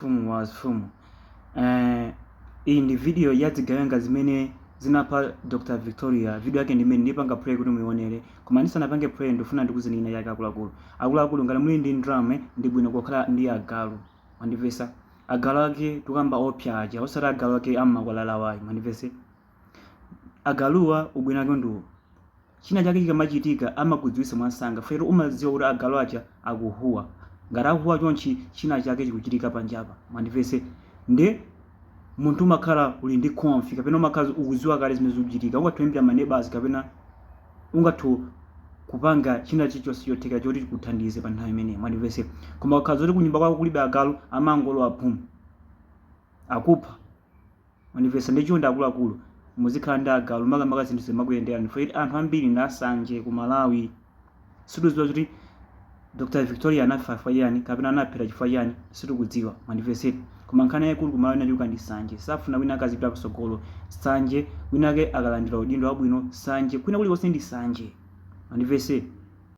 Mfumu ya mafumu eh, iyi ndi video ya dzigawenga zimene zinapha Dr Victoria. Video yake ndi imene ndipanga pray kuti muionere, koma ndisanapange play ndifuna ndikuuzeni china chake akuluakulu. Akuluakulu ngati muli ndi ndalama ndi bwino kukhala ndi agalu, mwandimvetsa agalu ake tukamba oopsya aja osati agalu ake am'makwalalawayi, mwandimvetse. Agaluwa ubwino wake ndi uwu, china chake chikamachitika amakudziwitsa mwansanga chifukwa choti umadziwa kuti agalu aja akuhuwa. Ngati akuhuwa chonchi, china chake chikuchitika panjapa. Mwandimvetse? Nde munthu umakhala uli ndi conf kapena umakhala ukudziwa kale zimene zikuchitika. Ungathe kuimbira maneighbors kapena ungathe kupanga china chilichonse chotheka choti chikuthandize pa nthawi imeneyi. Mwandimvetse? Koma ukakhala zoti kunyumba kwako kulibe agalu, amangolowa boom, akupha. Mwandimvetse nde chonde akuluakulu muzikhala ndi agalu makamaka zinthu zikamakuyenderani for yet anthu ambiri ndi ansanje ku Malawi sitikudziwa zoti Dr Victoria anafa chifukwa chiyani kapena anaphedwa chifukwa chiyani sitikudziwa mwandimvetse eti koma nkhani yayikulu ku Malawi inachuluka ndi nsanje safuna wina ake azipita patsogolo nsanje wina ake akalandira udindo wabwino nsanje kwina kulikonse ndi nsanje mwandimvetse eti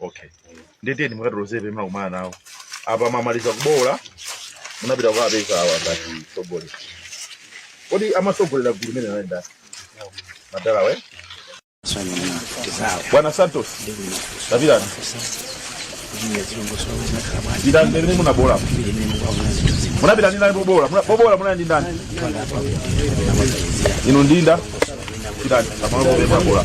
okay nde tiyeni mukatiloze pamene munakumana nawo apa mwamaliza kuboola munapita kukapeza awa ngati sogole kodi amatsogolera gulu limene anayenda madala we bwana santos tapitani pitani pamene munaboola munapita ndi ndani poboola Muna- poboola munali ndi ndani inu ndinda pitani pamalo pomwe munaboola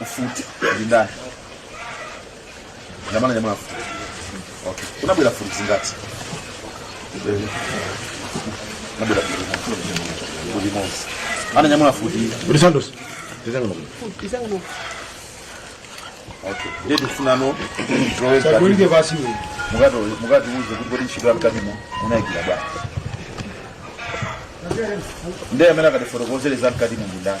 mfuti ndi ndani ananyamula mfuti okay unabwera mfuti zingati unabwera mfuti mfuti imodzi ananyamula mfuti Kuti Santos. Tizanga nokuno. okay ndiye tifuna tsopano zoezi Kulike basi we. mukati mukatiuze kuti kodi ntchito yamkatimo munayigwira bwa ndiye amene akatifotokozere za mkatimo ndi ndani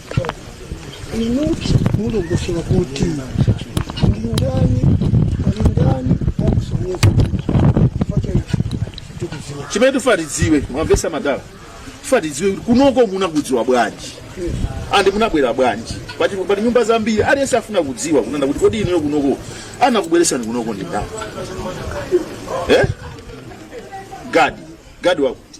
inu mulongosola kuti mulingani mulingani akusonyeza tikudziwa chimene tufuna tidziwe mwamvetsa madala tufuna tidziwe kuti kunoko munakudziwa bwanji and munabwera bwanji poti pali nyumba zambiri aliyense afuna kudziwa kunena kuti kodi inuyo kunoko anakubweretsani kunoko ndi ndani eh? gadi gadi wakuti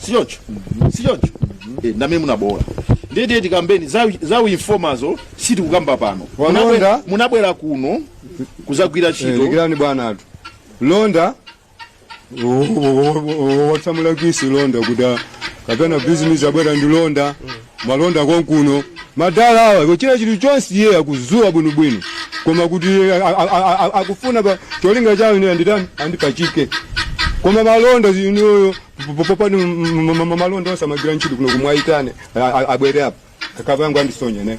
sichoncho sichoncho Eh, nda amene munaboola ndiye tiye tikambeni za- za uinfomazo sitikukamba pano Walonda. Munabwera- munabwera kuno kudzagwira Eh, ntchito lekirani bwana athu londa watsegula londa kuti a- kapena bizinesi abwera ndi londa malonda konkuno madala awa kuchita chinthu chonse iye akuziwa bwinobwino koma kuti a- a- a- a- akufuna pa cholinga chawo ine anditani andipachike koma malonda zinayo popanga malonda onse amagira ntchito kuno kumwaitane abwere apa akapanga andisonyane